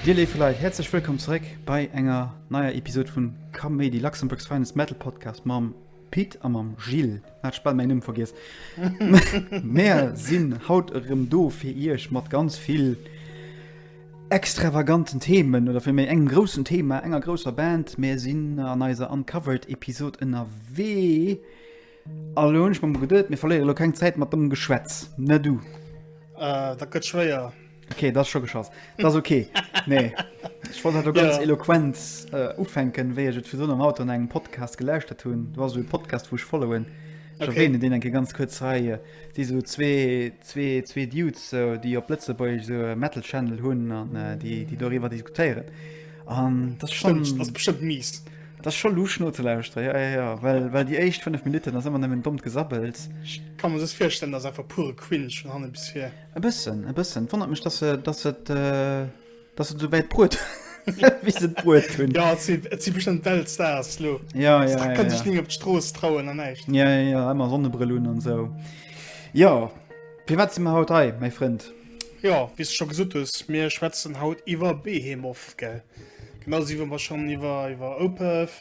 Dir léif Leit, häerzlech wëllkomm zeréck bei enger neier Episod vun Kaméidi, Luxembourg's Finest Metal Podcast mam. Pit a mam Jill, ech hat bal mäin Numm vergiess, mär sinn haut erëm do fir iech mat ganz vill extravaganten Themen oder fir méi engem groussen Thema, enger grousser Band. Mär sinn an eiser Uncovered Episod ënnerwee a lo hunn ech mer geduet, mir verléiere lo keng Zäit mat dommem Geschwätz, ne du? Ah, dat gëtt schwéier. Okay, das schon geschchoss das okay nee ich wollte du ganz ja. eloquenz äh, ufänken we für so am Auto an engem Podcast gelöscht tun du war so Podcast wo ich followen okay. den denke ganz kurz Reihe die so zwei zwei zwei Dudes so, die op Blitze bei so metal Channel hun an äh, die die darüber diskutieren an das schon Stimmt, das bestimmt mies das schon lu nur zu lauster ja, ja, ja weil weil die echt fünf Minuten das immer dumm gesabbelt kann man das feststellen dass einfach pure Quinsch von bis hier E bëssen, e bëssen. Wonnert mech, dass se, dass se, dass se souwäit bruet. Wéi se bruet hunn. Ja, et si, et si bestëmmt Weltstars lo. Ja, ja, ja. Kann sech ni op d'Strooss trauen an näischt. Ja, ja, ja, ëmmer Sonnebrill un an sou. Ja, firwat si mer haut hei, mäi Frënd? Ja, wéi s de scho gesot hues, mir schwätzen haut iwwer Behemoth, gell? Genauso wéi mer schonn iwwer, iwwer Opeth,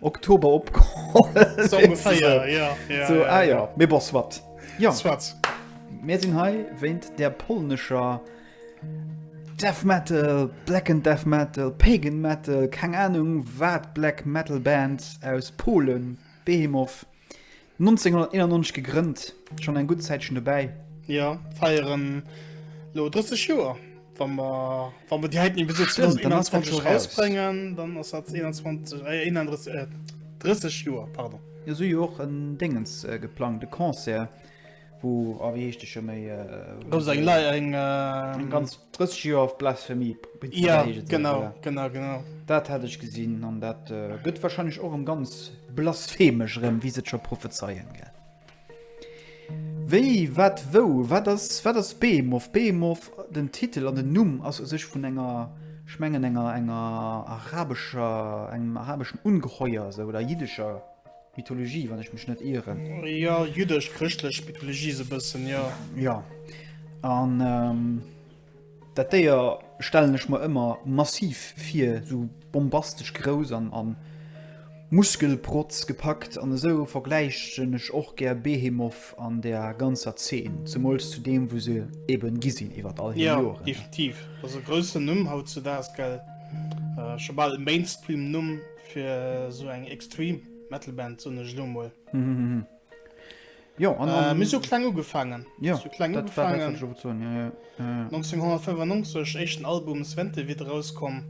Oktober opkomm so ungefähr ja, ja, so, ja, ah, ja. ja. bon, swat. Ja. Swat. Mir sinn hei wéint der polnescher Death Metal, Black and Death Metal, Pagan Metal, keng Ahnung wat Black Metal Bands aus Polen, Behemoth, 1991 gegrënnt, schon eng gudd Zäitchen dobäi. Jo, feieren lo 30 Joer. Wann mer, wann mer déi heiten Episod 2021 rausbrengen, dann ass dat 21, eh 31, eh 30 Joer, pardon. Jo, sou jo och en Déngens geplangt, e Concert. Wou, oh wéi heescht de scho méi? Do ass eng Lei, eng ganz. 30 Joer of Blasphemy. Jo genau genau genau. Dat hat ech gesinn an dat gëtt wahrscheinlech och erëm ganz blasphemesch erëm wéi se et scho prophezeien gell. Wéi wat wou wat ass wat ass Behemoth? Behemoth den Titel an den Numm ass u sech vun enger ech mengen enger enger arabescher engem arabeschen Ungeheuer esou oder jiddescher. Mythologie, wann ech mech net ieren. Jo, jüddesch-chrëschtlech Mythologie esou e bëssen, jo. Jo. An dat Déier stellen ech mer ëmmer massiv vir, esou bombastesch grouss an a Muskelprotz gepackt. An esou vergläichen ech och gär Behemoth an där ganzer Zeen, zemools zu deem, wou se eben gi sinn iwwert all hir Joren. Jo, definitiv. Dat ass e groussen Numm hautzudaags, gell? Scho bal e Mainstream-Numm. Fir sou eng Extreme Metal Band sinn ech lo mol. Jo an äh, mir so kleng ugefaangen. Jo kleng ugefaangen 1995 échten Album Svente wit rauskomm.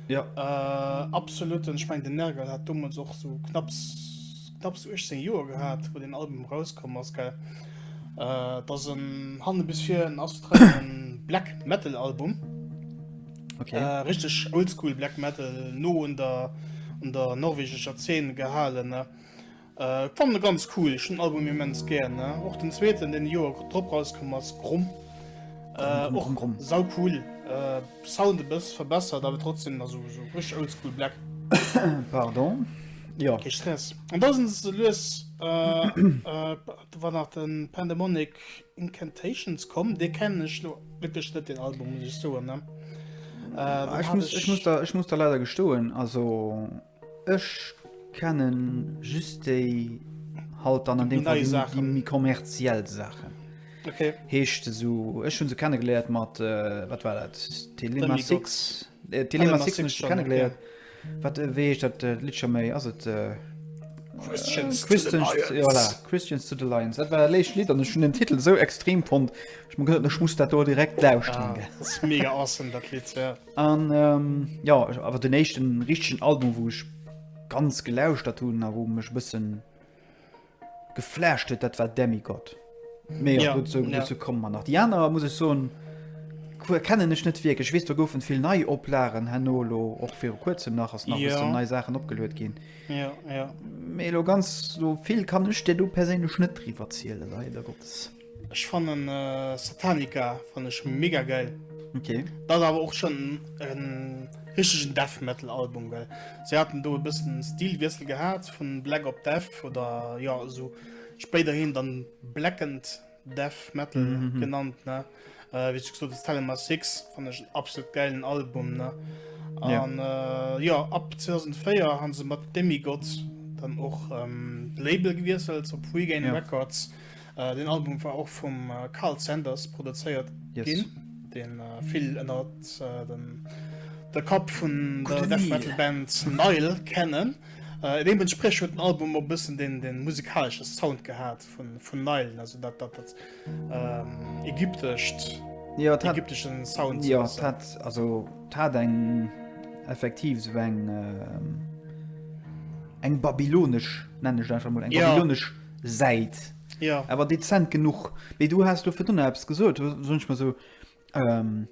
Jo äh, absoluten ech meng den Nergal hat dommels och so knapps knapps 18 Joer gehat, wou den Album rauskomm ass gell. Äh, dat ass en hanne bis vir en ass Black Metal Album. Okay. Äh, richtig oldschool Black Metal, no an der, an der norwegischer Szene gehalten. Ne? Äh, fand ganz cool, ich den Album immens gern. Ne? Auch den zweiten, den Joer drop rausgekommen als Grumm. Äh, auch Grumm. sau cool. Äh, Sound ein bisschen verbessert, aber trotzdem also, so richtig oldschool Black. Pardon. Ja. Okay, Stress. Und da sind sie los, äh, äh, war nach den Pandemonic Incantations komm dee kennen ech lo wierklech net den Album muss ech soen ne äh, ech, muss, ech, muss da, ech muss da leider gestoen also ech kennen just déi halt dann an dem Fall die, die mi kommerziell Sachen okay. heescht so ech hun se kennengeleert mat äh, wat war dat Telema 6 Telema 6 kennengeleert okay. Wat äh, wéi heescht dat äh, Lidd scho méi? Ass et äh, Christians, äh, Christians, to the voilà, Christians to the Lions. Dat war der léicht Lied an ech hun den Titel so extrem fond. Ech man gëtt ech muss dat do direkt lauschteren. Ja, das ist mega awesome, dat Lied. Ja. An ähm, ja, awer den éischten richtigen Album, wou ech ganz gelauschtert hunn a wou mech bëssen geflasht huet, dat war Demigod. Mee ja, gut, so, ja. so kommen man nach. Die aner muss ich so kennen ech net wirklich. Ich wees du goufen vill nei Oplagen hannolo och fir kurzem nach ass nach ja. so nei Sachen opgelöet gin. Ja, ja. Melo ganz so vill kann ech dir du perélech net triwer ziele leider Gottes. Ech fannen äh, Satanica fannen ech mega geil. Okay. Dat ass awer och schon en richtegen Death Metal Album, well se haten do e bëssen Stilwiessel gehat vun Black op Death oder jo esou spéiderhin dann Blackened Death Metal mm -hmm. genannt ne äh, wéi gesot ass Telema 6 fannen ech en absolut geilen Album ne. An ja. Äh, jo ab 2004 han se mat Demigod dann och ähm, Label gewiesselt op Regain ja. Records. Deen Album war och vum Karl Sanders produzéiert ginn, deen vill ënner der Kapp vun der Death Metal Band Nile kennen. Deementspriech huet den Album och e bëssen de musikalesche Sound gehat vun Nile, also dat ägyptescht, ägyptesche Sound. Jo, et hat, also et hat eng, effektiv esou eng, eng babylonesch, nennen ech et einfach emol, eng babylonesch. Säit ja. awer dezent genuch. Mee du has du fir dunner Apps gesot sonch mer so ähm,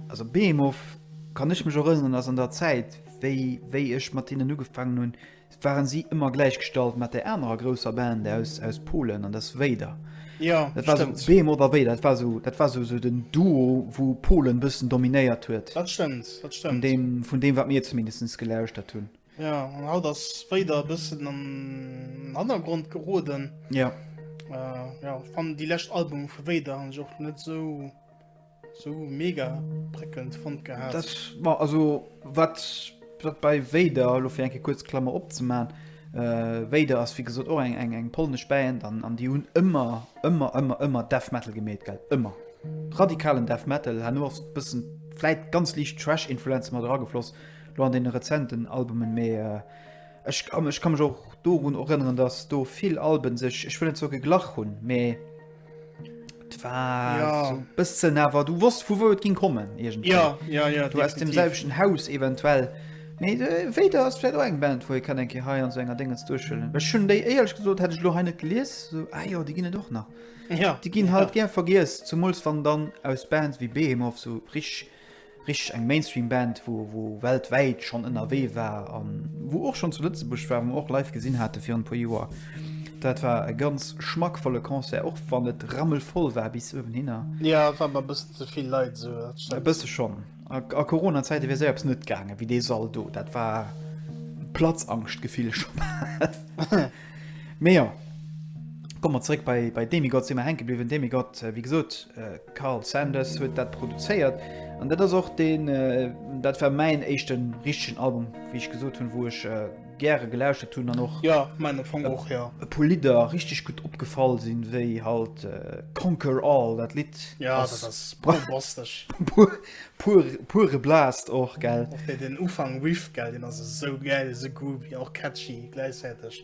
also Beemof kann ech mech erënnen ass an der Zäit wéi wéi ech mat hinnen ugefaangen hunn, waren si ëmmer gläichgestallt mat der anerer grousser Band aus, aus Polen an ders Wéider. Ja, dat war so Beem oder wéi dat war so dat war so, so den Duo wou Polen bëssen dominéiert huet. Dat stëmmt, dat stëmmt. Vun deem, vun deem wat mir zumindest gelauschtert hunn. Ja, an haut ass Vader e bëssen an den Hannergrond geroden. Ja. Äh, ja, ich fand die letzte Album von Vader habe ich auch nicht so, so mega prickelnd fand gehabt. Das war also, was bei Vader, also für eine kurze Klammer abzumachen, äh, Vader ist wie gesagt auch eine, eine, eine polnische Band und, und die haben immer, immer, immer, immer Death Metal gemäht, gell? Immer. Radikalen Death Metal, haben nur ein bisschen, vielleicht ganz leicht Trash-Influenzen mal dran geflossen. lo an den rezenten Albumen mee ech ech kann mech och dorun erënneren dass do vill Alben sech ech wëllen zo geglach hunn mee ja. bëssen awer du wosst vu wou et ginn kommen Irgend ja, ja, ja, du hast dem selschen Haus eventuell mee äh, wéi der ass fir eng Band woi kann enke hei an so enger Dingens duchëllen Ech schon déi eierlech gesot hätte ich lo heine gelies so, ah, jo die ginne doch nach ja. die ginn halt ja. ger vergiess zumuls wann dann aus Bands wie Behemoth so brich Richteg eng Mainstream Band wou wou weltwäit schonn ënnerwee war an wou och schonn zu Lëtzebuerg war, wou mer och live gesinn hate virun e puer Joer. Dat war e ganz schmackvolle Concert, och wann et rammelvoll war bis uewenhinner. Jo, war mer e bëssen ze vill Leit esou, dat E stëmmt. bësse schonn. A a Corona Zäite wier séier eppes net gaange wéi dee Sall do. Dat war Platzangscht Gefill scho bal. Mee jo, komme mer zeréck bei bei Demigod si mer hänke bliwwen. Demigod, wéi gesot, Karl Sanders huet dat produzéiert an dat ass och deen, dat war mäin éischten richtegen Album, wéi ech gesot hunn, wou ech gäre gelauschtert hunn an och Ja, mäin am Fong och, jo. e puer Lidder richteg gutt opgefall sinn, wéi halt Conquer All, dat Lidd Ja, dat ass ass bombastesch. pu pur pure Blast och, gell. Och dee deen Ufank, Riff, gell, deen ass esou gäil, esou groovy, och catchy gläichzäiteg.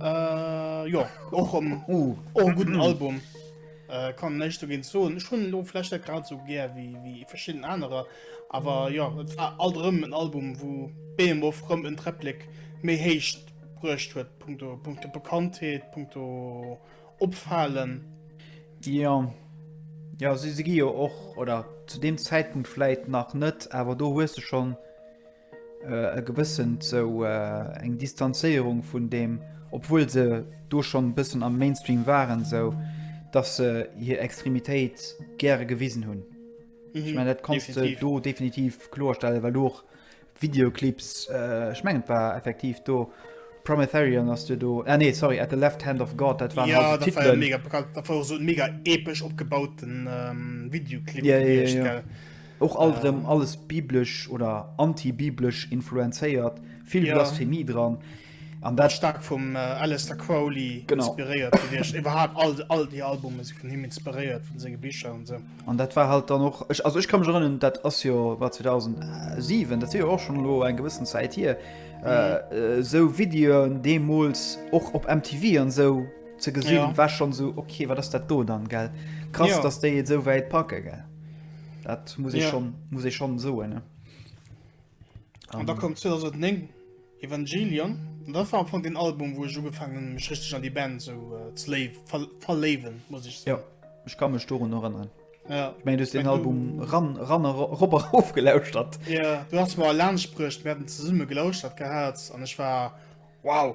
Äh, jo, och um, uh, och guten Album. Äh, kann näicht dogéint soen. Ech hunn lo vlächcht net grad sou gär wéi wéi verschidden anerer, awer jo, et war alt erëm en Album, wou Behemoth rëm en Träpplek méi héich bruecht huet, punkto punkto Bekanntheet, punkto Opfalen. Jo, jo, si si gi jo och, oder zu deem Zäitpunkt vläit nach net, awer do hues de schonn. e gewëssent sou eng Distanzéierung vun deem, obwuel se do schonn e bëssen am Mainstream waren, sou dass se hir Extremitéit gäre gewisen hunn. Mhm. Ech mengen dat kanns du definitiv. do definitiv kloerstellen, well du och Videoclips äh, ech mengen et war effektiv do Prometherion ass du do ah, nee sorry at the left hand of God dat waren Ja, also dat war ja Titelen. mega bekannt. Dat war och so en mega epesch opgebauten ähm, Videoclip Ja, ja, ja, gewiescht, ja. gell? Och alt erëm alles biblesch oder anti-biblesch influenzéiert, vill Blasphemie dran. An dat staark vum Aleister Crowley inspiréiert gewiescht. Iwwerhaapt all déi Albume si vun him inspiréiert, vun senge Bicher an esou. An dat war halt dann och, also ech ka mech erënnen, dat ass jo war 2007, dat wier jo och schonn elo eng gewëssen Zäit hier, esou Videoen deemools och op MTV an esou ze gesinn, war schonn esou, ok, wat ass dat do dann? Gell, krass, datt déi et esou wäit packe. Gell. Dat muss ja. muss e schon so ne um. da kommt 2009 Evangelion da war von den Album wo so gefangen mich richtig an die Band so äh, slave ver verleben muss ich sagen. ja ich kann mich darum noch erinnern ja. ich mein, du den Album du... ran ran Robert aufgelauscht hat ja du hast mal Lernsprücht werden zusammen gelauscht hat gehabt und ich war wow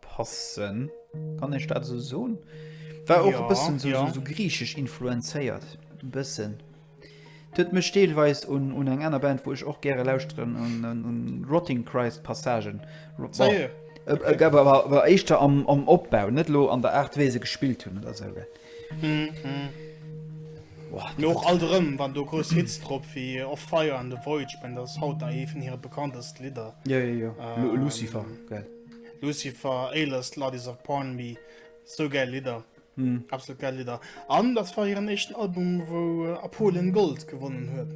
Passen, kann ech dat esou soen? War och e bëssen esou griichesch influenzéiert, e bëssen. Huet mech deelweis un eng aner Band, wou ech och gäre lauschteren, un Rotting Christ Passagen. War éischter am Opbau, net elo an der Aart, wéi se gespillt hunn oder esou. Mee och alt erëm, wann do grouss Hits drop si wéi Of Fire an The Void, ich mein, dat ass haut nach eent vun hire bekanntesten Lidder. Jo, jo, jo, Lucifer. Lucifer, Aylest, Ladies of Pornby, sou gäil Lidder, absolut gäil Lidder. An dat war hiren éischten Album, wou a Polen Gold gewonnen huet.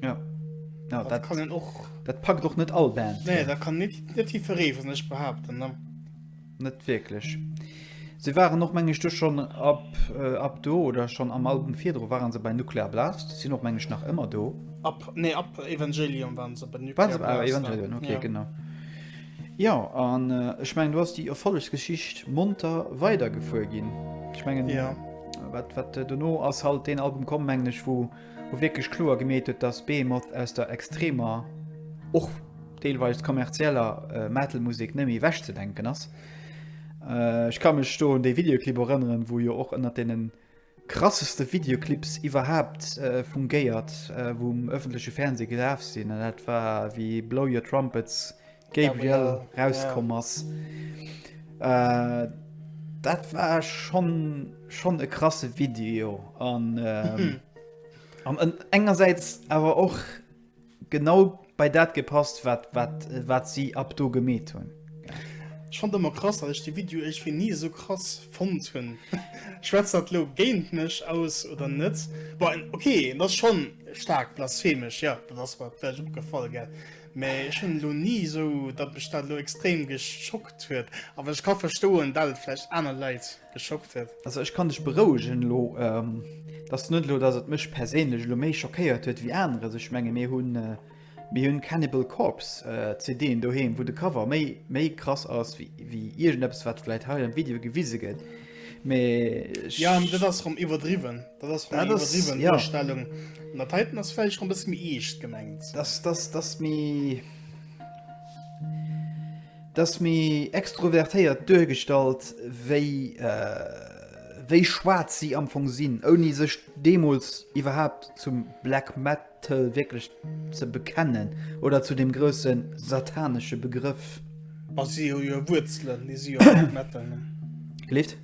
Ja, ja dat kann een och. Dat packt och net all Band. Nee, dat kann net net jiddweree vu sech behaapten. Net wierklech. Si waren och, meng ech, do schonn ab ab do oder schonn am Album virdru ware se bei Nuclear Blast, sinn och, meng ech, nach ëmmer do. Ab, nee, ab Evangelion waren se bei Nuclear Blast. Waren se bei Evangelion, okay, genau. Jo, an ech mengen du ass déi Erfollegsgeschicht monter weider gefuer ginn. Ech mengen ja. wat, wat äh, duno ass halt deen Album komm menglech, wou wo wierklech kloer gemeet huet, dass Behemoth aus der extremer och deelweis kommerzieller äh, Metalmusik net méi wäch ze denken ass. Äh, ech kann mech do un dee Videoclip erënneren, wou jo och ënner denen Krasseste Videoclips iwwerhaapt vum Gayert wou um ëffentleche Fernseh gelaf sinn an dat war wéi Blow Your Trumpets, Gabriel, rauskomm ass. Dat war schonn schonn e krasse Video an an engersäits awer och. Genau bei dat gepasst wat si ab do gemeet hunn. Ech fand ëmmer krass dat ech de Video iergwéi ni esou krass fonnt hunn. Schwätzt dat lo géint mech aus oder net? Bon ok en ass schon staark blasphemesch, jo dat ass mer vläicht opgefall gell, mä ech hunn elo ni esou dat mech dat elo extrem geschockt huet, awer ech ka verstoen dat et vläicht aner Leit. geschockt huet. Also ech kann dech berouegen elo, et ass net elo, datt et mech perséinlech elo méi schockéiert huet wéi aneres. Ech menge mir hunn mir hunn Cannibal Corpse CDen doheem, wou de Cover méi méi krass ass wéi wéi iergendeppes, wat vläicht hei am Video gewise gëtt. Mee ech. Jo, mee dat ass erëm iwwerdriwwen. Dat ass erëm eng iwwerdriwwen Duerstellung. An dat heiten ass vläicht erëm e bësse méi eescht gemengt. Dat ass méi. D'ass méi extrovertéiert duergestallt wéi wéi schwaarz si am Fong sinn, ouni sech deemools iwwerhaapt zum Black Metal wierklech ze bekennen oder zu deem grousse satanesche Begrëff. A si hu jo Wuerzelen, déi si jo Black Metal nennen. Gelift?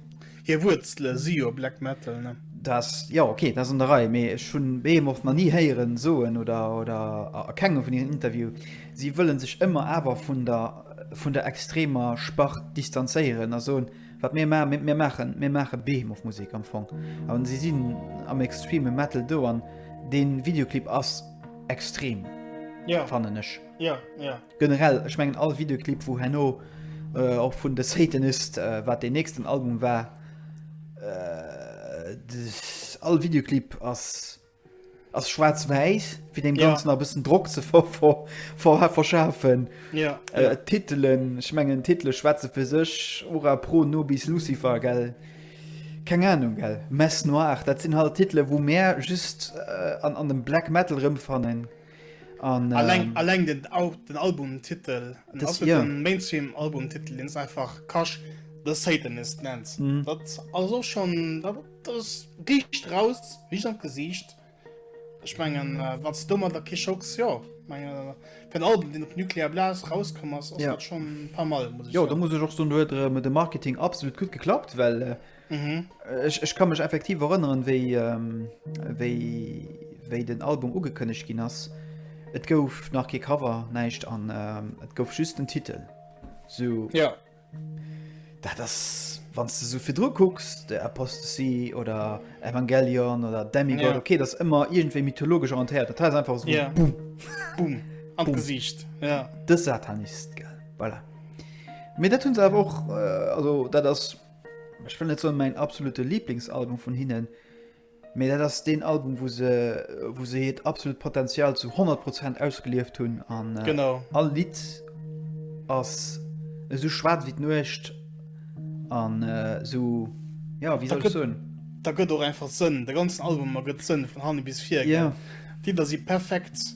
Hir Wuerzele si jo Black Metal, ne? Dat, jo, ok, dat ass an der Rei, mee ech hu Behemoth nach ni héieren soen, oder, oder a kengem vun hiren Interview, si wëlle sech ëmmer awer vun der, vun der extremer Spart distanzéieren a soen, wat mir ma, mir, mir maachen, mir maache Behemoth-Musek am Fong. A si sinn am extreme Metal do an dee Videoclip ass extrem, Ja. fannen ech. Ja, ja. Generell, ech mengen all Videoclip wou herno och vun The Satanist, wat den nächsten Album war, all Videoclip ass ass schwaarz-wäiss fir dem ganzen yeah. a bëssen Drock ze ver, ver, ver, verschafen. Yeah. Äh, yeah. Titelen, ech mengen Titele schwätze fir sech, Ora pro nobis Lucifer, gell? Keng Ahnung gell. Mess noir, dat sinn halt Titele wou mär just äh, an, an dem Black Metal rëmfannen. An, alleng, ähm, alleng den, den Albumtitel ja. Mainstream Albumtitel den einfach Kasch the Satanist nennt mhm. das also schon das dicht raus wie schon gesicht ich mengen äh, was dummer der Kischocks ja meine den Album den nuklear Blas rauskommen ja. schon ein paar mal muss ja, ja. da muss ich auch so nur mit dem Marketing absolut gut geklappt weil äh, Ech ka mech effektiv erënneren, wéi den Album ugekënnegt ginn ass. Et gouf nach kee Cover, näischt an et gouf just den Titel. Dat ass, wann s de esou virdru kucks, de Apostasy oder Evangelion oder Demigod, okay, dat ass ëmmer iergendwéi mythologesch orientéiert. Dat hei ass einfach esou Boom! Boom! An d'Gesiicht. Dës Satanist, gell, voilà. Mee dat hunn se awer och, also dat ass. Ech wëll net soen mäin absolute Lieblingsalbum vun hinnen, mee dat ass deen Album, wou se, wou se hiert absolut Potenzial zu 100 Prozent ausgelieft hunn. An äh, genau. all Lied ass esou schwaarz wéi d'Nuecht an äh, so, ja, wéi soll ech soen? Da gëtt och einfach Sënn. De ganzen Album ergëtt Sënn vun hanne bis vir. Ja. D'Lidder si perfekt.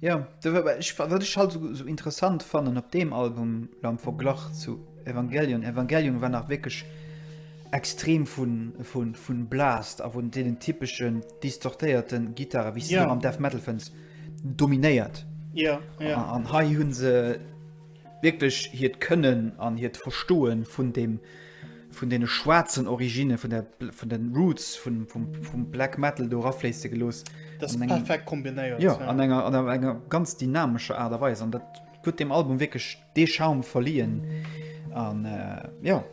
Jo, wat ech halt esou interessant fannen op deem Album lo am Verglach zu Evangelion, Evangelion war nach wierklech extrem vun Blast a vun deenen typeschen distortéierte Gittare wéi se am Death Metal fënns, dominéiert. An hei hunn se wierklech hiert Kënnen an hiert Verstoe vun dem, vun deene schwaarzen Originne, vun der, vun den Roots vun, vum, vum Black Metal do erafléisse gelooss. Dat ass perfekt kombinéiert. Jo, an enger, an enger ganz dynamescher Aart a Weis. An dat huet deem Album wierklech dee Charme verliehen. An, jo,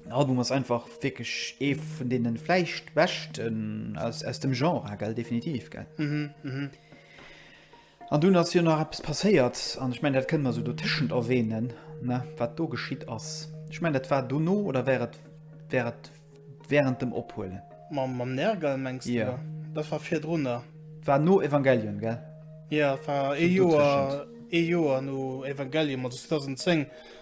den Album ass einfach wierklech ee vun deene vläicht beschten aus, aus dem Genre, gell, definitiv, gell. An dunn ass jo nach eppes passéiert, an ech mengen, dat kënnen mer esou dotëschent erwähnen, ne, wat do geschitt ass. Ech mengen, dat war dono, oder war et, war et während dem Ophuelen? Mam, mam Nergal, mengs du? Jo. Dat war virdrunner. Dat war no Evangelion, gell? Jo, dat war ee Joer, ee Joer no Evangelion, also 2010.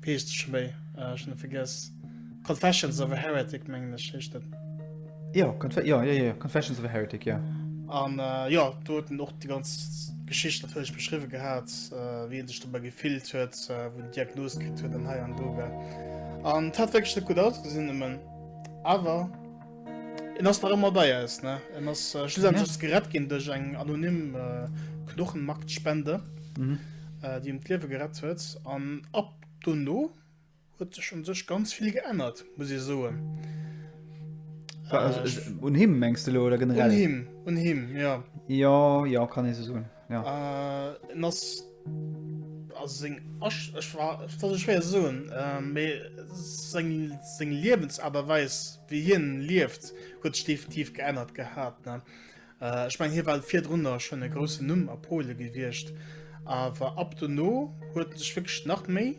Peecht Schléi, ah ech hun e vergess. Confessions of a Heretic mengen ech heescht et. Jo, Confe jo, jo, jo, Confessions of a Heretic, jo. An jo, do huet en och déi ganz Geschicht natierlech beschriwwe gehat, wéi en sech dobäi gefillt huet, wou en d'Diagnos kritt huet an hei an do, well an et hat wierklech net gutt ausgesinn, nëmmen awer. En ass nach ëmmer bei eis, ne? En ass äh, schlussendlich ja. ass gerett ginn duerch eng anonym äh, Knochenmarktspende, mhm. äh, déi em d'Liewe gerett huet. An ab dono huet sech un sech ganz vill geännert, muss ich soen. Äh, un him mengste lo oder generell? Un him, un him, ja. Ja, ja, kann e se soen. Ja. Äh, en ass also seng Asch, ech war dat ech schwéier soen, äh, méi seng seng Liewensaarterweis wéi hien lieft huet sech definitiv geännert gehat ne. Äh, ech meng hie war virdrunner schon e groussen Numm a Pole gewiescht, awer ab dono huet sech wécklech nach méi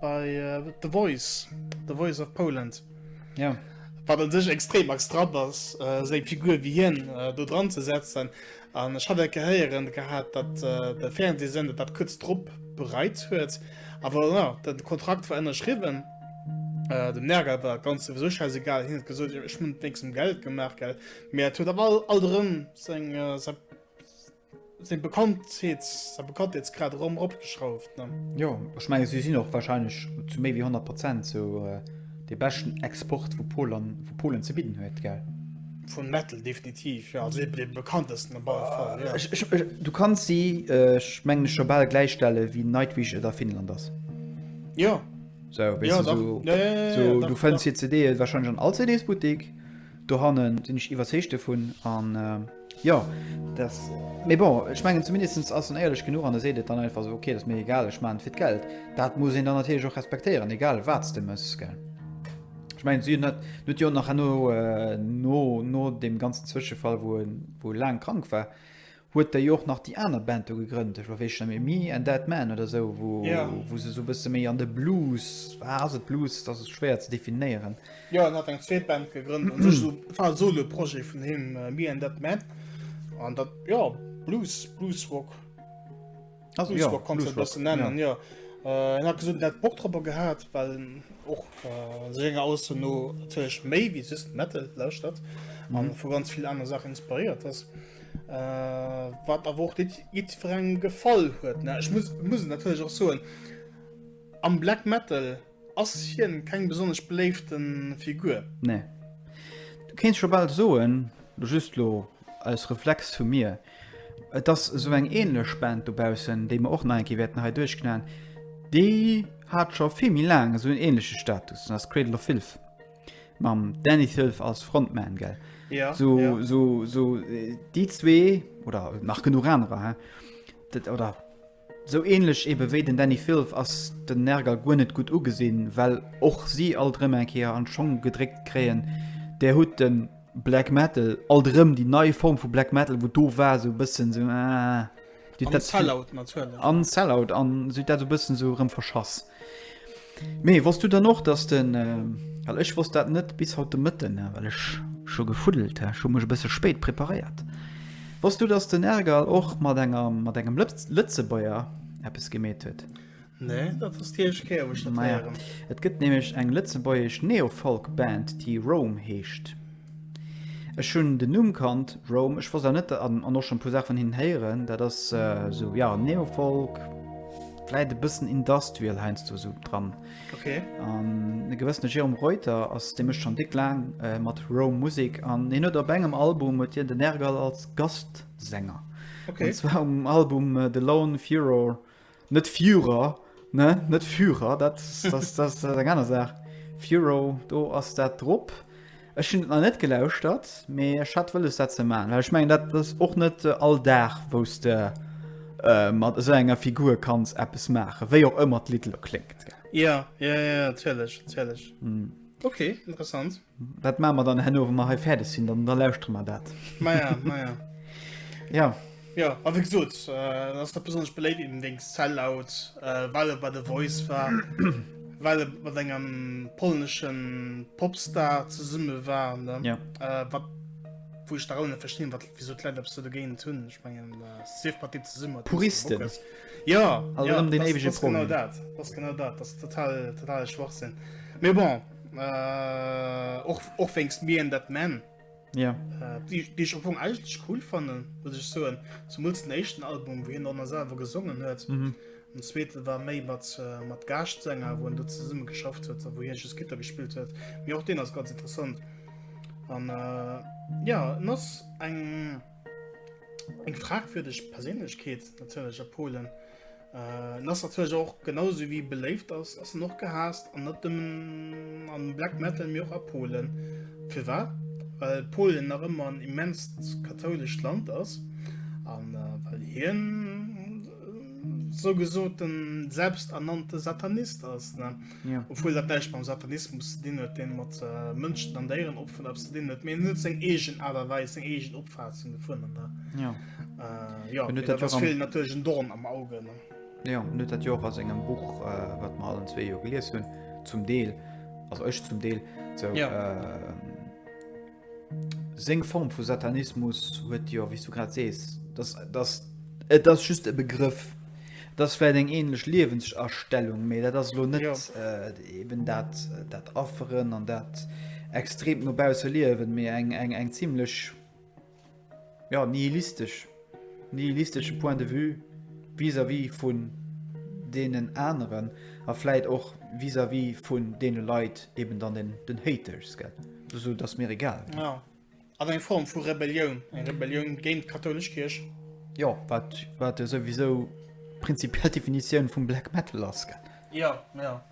bei uh, The Voice, The Voice of Poland. Ja. Yeah. Wat an sech extrem extra ass, äh, seng Figur wie hien äh, do dran ze setzen. An ech hat gehéieren gehabt, dat äh, de Fernsehsende dat kurz drop bereit huet. Aber ja, den Kontrakt war ënnerschriwen. Äh, dem Nerger war ganz sowieso scheißegal hin gesot ich mun wé zum Geld gemacht gell. Mä huet all all seng äh, Seng Bekanntheet, säi Bekanntheetsgrad erëm eropgeschrauft, ne? Jo, ech menge si sinn och warscheinlech zu méi wéi 100 Prozent sou dee beschten Export wou Polen, wou Polen ze bidden huet, gell? Vun Metal definitiv, jo, also eben dee bekanntesten op alle Fall, jo. Ech, ech, ech, du kanns si, ech mengen scho bal gläichstelle wéi Nightwish et a Finnland ass. Jo. Sou, weess du, sou, ja, ja, ja, sou, du fënns hir CDe warscheinlech an all CDs-Buttik, dohannen sinn ech iwwerzeegt dovun, an. Jo, dass, mee bon, ech mengen zumindest ass en éierlech genuch an e seet et dann einfach esou, ok, dat ass mir egal, ech maachen et fir d'Geld. Dat muss een dann natierlech och respektéieren, egal wat s de méchs, gell. Ech mengen, si hunn dat, en huet jo och nach herno, no, no deem ganzen Zwëschefall, wou en, wou e laang krank war, huet e jo och nach déi aner Band do gegrënnt, ech weess scho net méi, Me and Dead Man oder esou, wou, wou se esou e bësse méi an de Blues, ah, ass et Blues, dat ass schwéier ze definéieren. Jo en hat eng zweet Band gegrënnt an sech esou war e solo Projet vun him Me and That Man an dat jo Blues Blues Rock also jo kommt dat bëssen nennen jo en hat gesot en hätt Bock drop gehat well en och senger Ausso no natierlech méi wéi just Metal lauschtert an vu ganz vill aner Saachen inspiréiert ass wat awer och net jiddwerengem gefall huet ne ech muss muss et natierlech och soen am Black Metal Ass hien keng besonnesch beléiften Figur? Nee. Du kéints scho bal soen, lo just lo als Reflex vu mir, et ass esou eng ähnlech Band dobaussen, déi mer och nach eng Kéier wäerten hei duerchknallen, déi hat scho vill méi laang esou en ähnleche Status, dat ass Cradle of Filth, mam Dani Filth als Frontman, gell? Ja, esou, ja. esou, esou déi zwee, oder nach genuch anerer, hein, dat, oder. Sou ähnlech eben wéi den Dani Filth ass den Nergal guer net gutt ugesinn, well och si alt erëm eng Kéier an Schong gedréckt kréien, Där hutt den Black Metal, alt erëm déi nei Form vu Black Metal, wou do war sou bëssen sou, ah, an Sellout natierlech, an Sellout, an sou dat sou bëssen sou erëm verschass. Mee wosst du dann och dass den, well ech wosst dat net bis haut de Mëtten, well ech scho gefuddelt ha, ech hu mech e bësse spéit preparéiert, wosst du dass den Ergal och mat enger, mat engem Lëtzebuerger eppes gemeet huet? Nee, dat ass déi éischt Kéier wou ech dat héieren. Et gëtt nämlech eng lëtzebuergesch Neofolk-Band déi Rome heescht. Ech hunn den Numm kannt, Rome. Ech wosst awer net, an och schon e puer Saache vun hinnen héieren, dat ass esou, ja, Neofolk, vläit e bëssen Industrial heiansdo esou dran. Okay. An e gewëssene Jérôme Reuter ass, dee mécht schon déck laang mat Rome Musek an hien huet op engem Album huet hien den Nergal als Gastsänger. Okay. An zwar um Album The Lone Furor Net Führer, ne? Net Führer, dat ass eng aner Saach. Führer, do ass dat drop. Ech hunn et nach net gelauschtert, mee ech hat wëlles, dat ze maachen. Well ech mengen, dat ass och net all Dag, wou s de mat esou enger Figur kanns eppes maachen, wéi och ëmmer d'Lidd elo kléngt. Jo, jo, jo, natierlech, natierlech. Ok, interessant. Wat maache mer dann herno, wa mer hei fäerdeg sinn? Dann, da lauschtere mer dat. Maja, maja. Ja. Ja, a wéi gesot, äh, ass dat besonnesch beléift eben wéinst Sellout, äh, well e bei The Voice war, well e mat engem polneschen Popstar zesumme war, ne? Ja. Äh, wat, wou ech da rou net verstinn, wat, wéi esou d'Leit eppes do dogéint hunn. Ech mengen, äh, sief mat deem zesumme, wat Puristen. Bock hues. Ja, Also ja, erëm deen das, éiwege das genau Problem. dat. Das genau dat. Das ist total, totale Schwachsinn. Mee bon. Äh, och, och wéngst mir en dat men. Ja. Äh, die, die ich am eigentlich cool fanden muss ich so zum den echten Album wie noch selber gesungen hört mhm. und zweite war May mat äh, mat Gastsänger wo du zusammen geschafft hat wo hier Gitter gespielt hat wie auch den das ganz interessant und, äh, ja das ein eng fragwürdig Persönlichkeit natürlich Polen En ass natierlech och genau sou wéi beléift ass, ass en och gehaasst an net nëmmen am Black Metal, mee och a Polen. Firwat? Well Polen nach ëmmer en immenst kathoulescht Land ass an well hien esou gesot en selbsternannte Satanist ass. obwuel dat näischt mam Satanismus ze dinn huet, dee mat Mënschen an Déieren och vun eppes ze dinn huet, mee en huet seng eegen Aart a Weis, seng eegen Opfaassung dovun an dat, jo, mee dat ass villen natierlech en Dorn am Auge. Jo, en huet dat jo och a sengem Buch, wat mer allen zwee jo gelies hunn, zum Deel, also ech zum Deel, sou. Seng Form vu Satanismus huet, jo, wéi s du grad sees, dass, dass. Et ass just e Begrëff. Et ass vläicht eng ähnlech Liewensastellung, mee dat ass elo net. Jo. Eben dat, dat Afferen an dat extremt no bausse Liewen, mee eng, eng, eng zimlech. ja, nihilistesch, nihilistesche Point de vue vis-à-vis -vis vun deenen aneren a vläit och vis-à-vis -vis vun deene Leit, eben dann den, den Haters, gell? Esou, dass mir egal ginn. Ja. Ass eng Form vu Rebellioun, eng Rebellioun géint d'kathoulesch Kierch. Jo, wat, wat jo souwisou prinzipiell d'Definitioun vum Black Metal ass, gell? Jo, jo.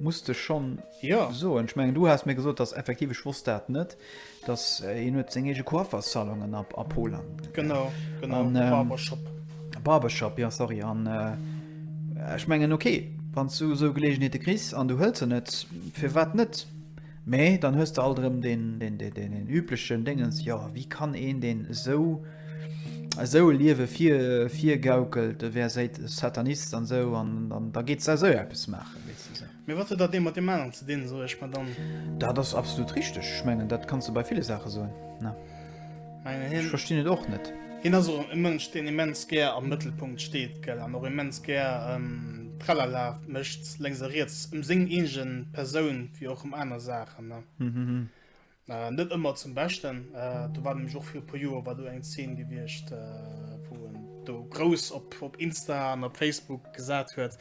Muss de schonn soen. Ech mengen du has mir gesot dass effektiv, ech wosst dat net, dass hien huet seng eege Coiffersalonen a Polen. Genau, genau an e Barbershop. E Barbershop, jo sorry an ech mengen ok, wann s du esou Geleegenheete kriss an du hëls se net, firwat net? Mee dann hues de alt erëm deen üblechen Déngens, jo wéi kann een deen esou esou e Liewe virgaukelt, e wär Satanist an esou an da geet s esou eppes maachen. Mee wat huet dat ee mat deem aneren ze dinn, soe ech mer dann. Dat ass absolut richteg. Ech mengen, dat kanns de bei ville Saache soen. Ech verstinn et och net. Hien ass och e Mënsch, deen immens gär am Mëttelpunkt steet, gell, an och immens gär Tralala mécht, lénks a riets, ëm seng eege Persoun wéi och ëm aner Saachen. Äh, net ëmmer zum Beschten. Äh, do war nämlech och fir e puer Joer war do eng Zeen gewiescht, äh, wou en do grouss op, op Insta an op Facebook gesat huet,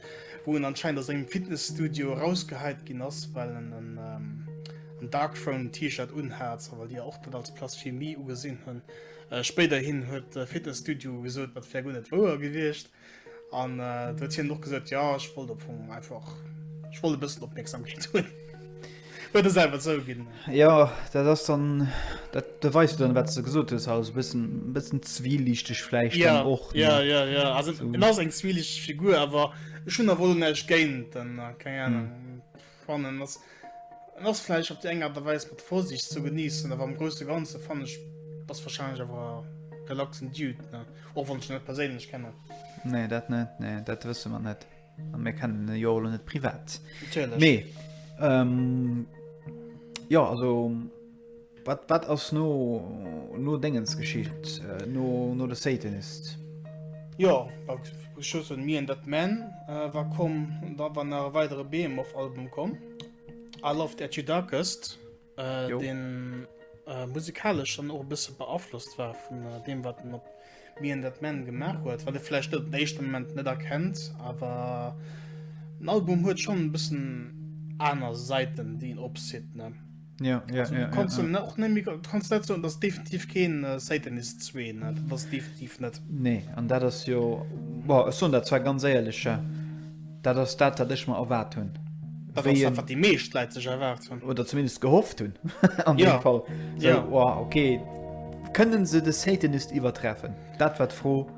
wou en anscheinend aus engem Fitnessstudio rausgeheit ginn ass, well en en, ähm, en Darkthrone T-Shirt unhat, well Dir och dat als Blasphemie ugesinn hunn. Äh, spéiderhin huet de Fitnessstudio gesot, dat wär guer net wouer gewiescht. An äh, huet hien noch gesot ja ech wollt op vum einfach ech wollt e bëssen Opmerksamkeet hunn. Huet es einfach sou ginn. Ja dat ass dann dat de weist dann wat ze gesot hues alles bëssen bëssen zwielichteg fläicht ja, och ja, ja, ja. Also, so. ass eng zwielichteg Figur awer schon a wollen näicht géint dann äh, keng Ahnung. Hm. Fannen ass en ass vläicht op déi eng Aart a Weis mat Vorsicht ze geniessen, awer am Grousse Ganze fannen ech ass warscheinlech awer e relaxen Dude, ne? Och wann ech en net perséinlech kennen. Nee, dat net, nee, dat wësse mer net. A mir kennen e jo och elo net privat. Natierlech. Mee, ähm, jo, also. Wat, wat ass no, no Déngens geschitt, no, no The Satanist? Jo, Schussen Me and That Man äh, war komm, da war nach e weidere Behemoth-Album komm. All of That You Darkest, äh, Jo. den äh, musikalesch dann och e bësse beaflosst war vun äh, deem, wat den op wéi en dat Band gemaach huet, wat e vläicht op den éischte Moment net erkennt, awer den Album huet schonn e bëssen aner Säiten, déi en opzitt, ne? Ja, ja, also, ja, du kannst ja, ja. Auch nicht, du kannst net so dass definitiv keen äh, Satanist 2 ne? das definitiv net. Nee an dat ass jo war so dat zwar ganz éierlecher. Dat ass dat, wat ech mer erwaart hunn. Dat ass dat, wat déi meescht Leit sech erwaart hunn. Oder zumindest gehofft hunn an deem Fall. Jo, jo. Okay, kënnen se de Satanist iwwertreffen? Dat war d'Fro.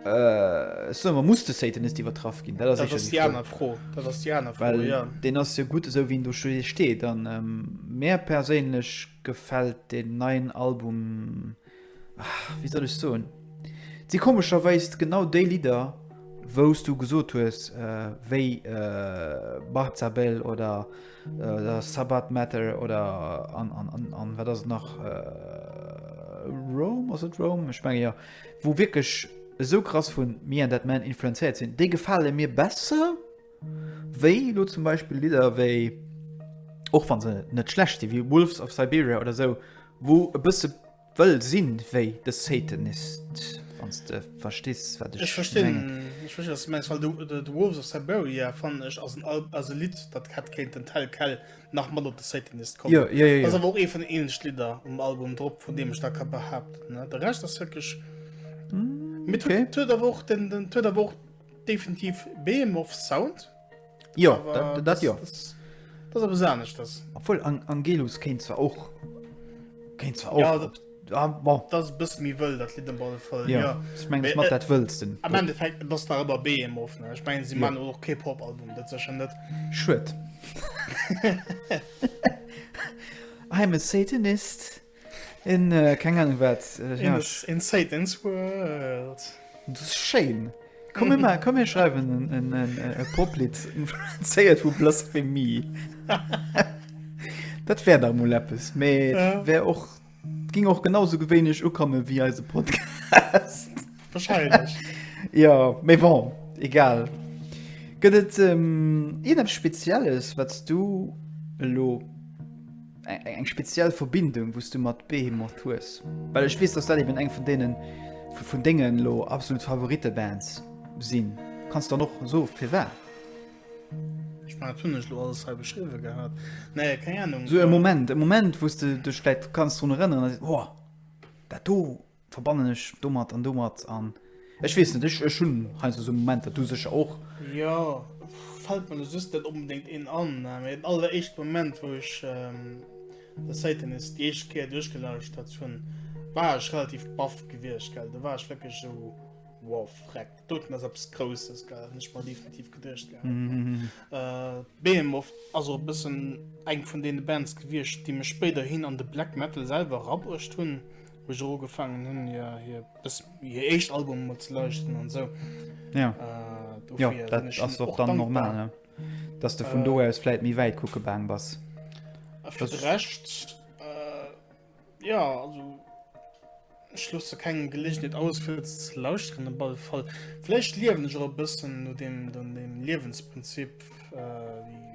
Ech soe mer, muss de Satanist iwwertraff ginn? Dat ass sécher déi aner Fro. Dat ass déi aner Fro, jo. Well deen ass jo gutt esou, wéi en do steet. An mär perséinlech. Gefällt den neien Album ah wéi soll ech soen si komescherweis genau déi Lidder wous du gesot hues wéi Bartzabel oder oder Sabbat Matter oder an an an an wat ass et nach Rome ass et Rome ech menge jo wou wierklech esou krass vun Me and That Man influenzéiert sinn déi gefale mir besser Wéi elo zum Beispill Lidder wéi, och wann se net schlecht sinn, wéi Wolves of Siberia oder sou, wou e bësse wëll sinn wéi The Satanist, wann s de verstees, wat ech mengen. Ech verstinn, ech verstinn, wat s de mengs, well de, de Wolves of Siberia, fannen ech, ass en Al-, ass e Lidd, dat hätt kéinten Tell Quell nach mat op The Satanist kommen. Jo, jo, jo, jo. Ass awer och eent vun den éinescht Lidder um Album drop, vun deem ech dat ka behaapten. De Rescht ass wierklech, mee 't huet, 't huet awer och den, den, 't huet awer och. Definitiv Behemoth Sound. Jo, dat jo. Dat ass eppes aneschters. Obwuel Angelus kéint zwar och. Kéint zwar och. Ja, bon. Dat ass e bësse méi wëll, dat Lidd op alle Fall. Jo, jo. Ech meng, ech mat dat Wëllsten. Am Endeffekt, et ass nach ëmmer Behemoth, ne? Ech mengen, si maachen och kee Pop-Album, dat sécher net. Schued. I am a Satanist. Een keng Ahnung wat een Satan's World dus schéin komme mer komm mir schreiwen en e Poplied zéiert vu Blasphemie dat wär der mol eppes mee wär och ging och genau sou gewéinlech ukomme wéi eise Podcast wahrscheinlech jo mee bon egal gëtt et iergendepps spezielles wat s du elo Eng speziell Verbindung wou's du mat Behemoth hues? Well ech weess dass dat eben eng vun deenen vun dengen elo absolut Favorite Bands sinn. Kanns dann och soe firwat? Ech mengen dat hunn ech elo alles hei beschriwwe gehat. Nee keng Ahnung. Sou e Moment, e Moment wou's de dech vläit kanns drun erënneren a sees, oh dat do. Verbannen ech domat an domat an. Ech weess net, ech hunn heiansdo esou Momenter, du sécher och. Jo, fält mer elo soss net onbedéngt een an, mä den alleréischte Moment, wou ech de Satanis déi éischt Kéier duerchgelauschtert hunn, war ech relativ baff gewiescht, gell. Do war ech wierklech esou, wow, Vreck, doten ass eppes Grousses, gell, hunn ech mer definitiv geduecht gehat. Behemoth ass och e bëssen eng vun deene Bands gewiescht, déi mech spéiderhin an de Black Metal selwer erabruecht hunn. wou ech och ugefaangen hunn hir hir bis hir éischt Album emol ze lauschteren an esou. Ja. Äh, dofir Jo, sinn dat ech ass hinnen och och dann dankbar. normal, ne? Dass de vun do aus vläit méi wäit kucke gaang bass. A fir de Rescht, äh, ja, also ech loosse kengem Geleeënheet aus fir ze ze lauschteren op alle Fall. Vläicht liewen ech och e bëssen no deem no deem Liewensprinzip, äh, wéi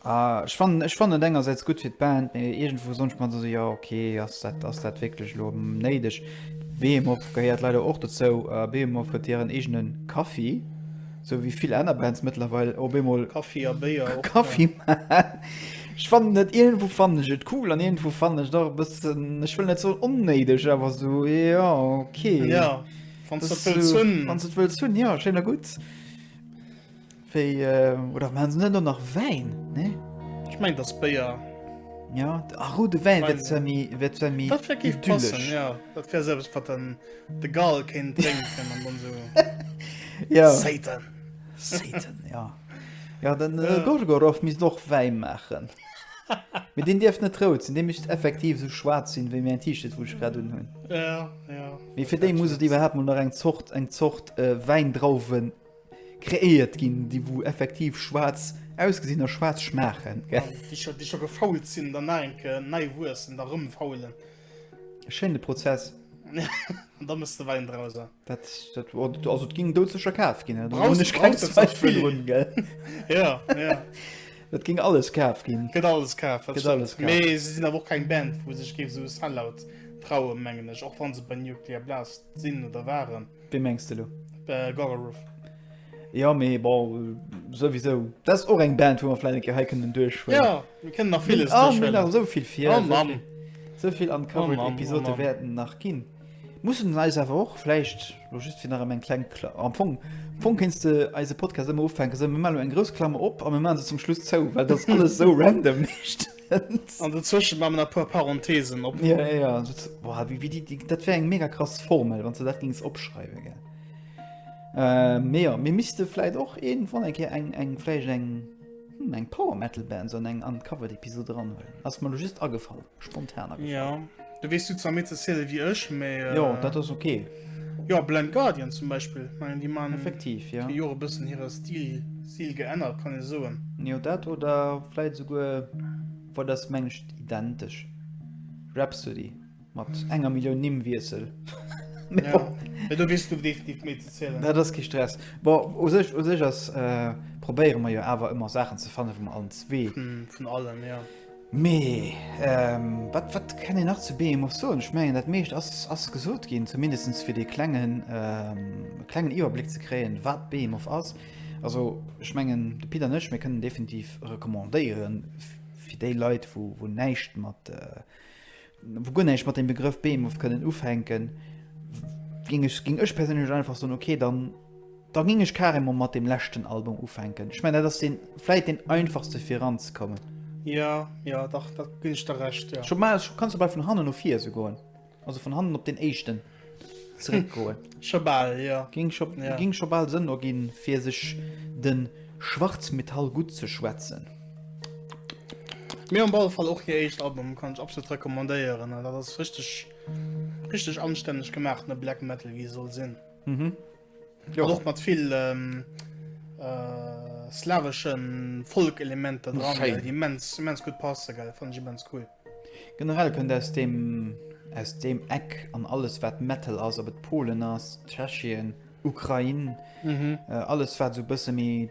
A ech fannen, ech fannen et engersäits gutt fir d'Band, mee iergendwou soen ech mer dann esou, jo ok, ass dat, ass dat wierklech elo néideg? Behemoth gehéiert leider och dozou. Behemoth huet hiren eegene Kaffi, esou wéi vill aner Bands mëttlerweil op eemol Kaffi a Béier och, Kaffi maachen. Ech fannen et, iergendwou fannen ech et cool an iergendwou fannen ech et och e bëssen, ech wëll net soen onnéideg, awer esou, jo ok, wann s de et wëlls hunn, jo, schéin a gutt. Wéi, oder maachen se net och nach Wäin? Nee? Ech mengen, dass Béier. Ja, a roude Wäin wär zwar méi, wär zwar méi Dat wär géif passen, idyllesch. ja. Dat wär sou eppes, wat dann de Gall kéint drénken an dann sou Ja, Satan. Satan, ja. Ja, den äh, Gorgoroth misst och Wäin maachen. Mee deen dierf net rout sinn, dee misst effektiv sou schwaarz sinn, wéi mäin T-Shirt, wou ech grad unhunn. Ja, ja. Mee fir déi muss et iwwerhaapt mol nach eng Zort, eng Zort äh, Wäindrauwen Kreéiert ginn, déi wou effektiv schwaarz ausgesinn a schwaarz schmaachen. Déi scho gefault sinn, dann nach eng Kéier nei wuessen, da rëm faulen. E schéine Prozess. An da mëss de Wäin draus. Dat also et ging doudsecher kaf ginn. Et ging alles kaf ginn. Gëtt alles kaf. Mee se sinn awer och keng Band, wou sech géif esou Sellout traue mengen ech. Och wann se bei Nuclear Blast sinn oder waren. Wee mengs de lo? Äh, Gorgoroth. Jo, mee bon, souwisou. Dat ass och eng Band, wou mer vläicht eng Kéier hei kënnen duerchhuelen. Jo, mir kënnen nach villes duerchhuelen. Mir hunn nach esou vill vir. Oh Mann! Esou vill uncovered Episoden wäerten nach ginn. Mussen eis awer och vläicht, lo just fir nach ëm eng kleng Kla-, am Fong, am Fong kéints de eise Podcast ëmmer ufänken, esou, mir maachen elo eng grouss Klammer op a mir maache se zum Schluss zou, well dat ass alles esou random. An do zwëschen man a puer Parenthesen op. Ja, ja, ja. Dat, boah, wie, wie die, die, dat wär eng mega krass Formel, wann ze dat gings opschreiwe ge. Äh, mee ja, mir misste fläit och een wann eng Keer eng eng fläich eng hm, eng Power Metal Band so eng an Cover d'Episode ranhuelen. Ass mer lo just agefall, spontan agefall. Ja. Du wees du zwar méi ze zielen wéi ech, mee. Äh, jo, dat ass ok. Jo, Blind Guardian zum Beispill. Mengen déi man effektiv ja. Jo e bëssen hire Stil Stil geännert kann e soen. Jo dat oder fläit souguer wat ass mengt identesch. Rhapsody mat enger Millioun Nimm wiesel. Ja. ja du wees du definitiv méi ze zielen. Dat ass ki Stress. Bo u sech u sech ass äh, probéiere mer jo awer ëmmer Saachen ze fanne vum allen zwee. Vun allem ja. Mee wat wat kann een nach zu Behemoth soen? Ech mengen dat meescht ass ass gesot ginn, zumindest fir dee klengen klengen Iwwerbléck ze kréien wat Behemoth ass. Also ech mengen de Pit an ech mir kënnen definitiv recommandéiere fir déi Leit wou wou näischt mat wou guer näischt mat dem Begrëff Behemoth kënnen ufänken, géing ech, géing ech perséinlech einfach soen, okay, dann, da géing ech carrément mat dem leschten Album ufänken. Ech mengen, dat ass deen, vläit deen einfachste fir eranzekommen. Jo, jo, dach, da ginn ech der Recht, jo. Scho bal, scho, kanns scho bal vun hannen no vir esou goen, also vun hannen op deen éischten. zréckgoen. Scho bal, jo. Géing scho, ja. géing scho bal Sënn erginn, fir sech de Schwarzmetall gutt ze schwätzen. Mir hunn op alle Fall och hir éischt Album, kann ech absolut recommandéieren. Dat ass richteg, richteg anstänneg gemaach, ne Black Metal, wéi e soll sinn. Jo. Och mat vill ähm, äh, slaweschen Folk-Elementer dran, Schön. gell, déi immens, immens gut passen, gell, fand ich immens cool. Generell kënnt aus dem aus dem Eck an alles wat Metal ass, ob et Polen ass, Tschechien, Ukrain, Mhm. äh, alles wat so bësse méi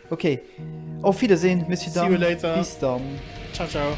Ok, auf Wiedersehen, Monsieur See you later. Bis dann. Ciao, ciao.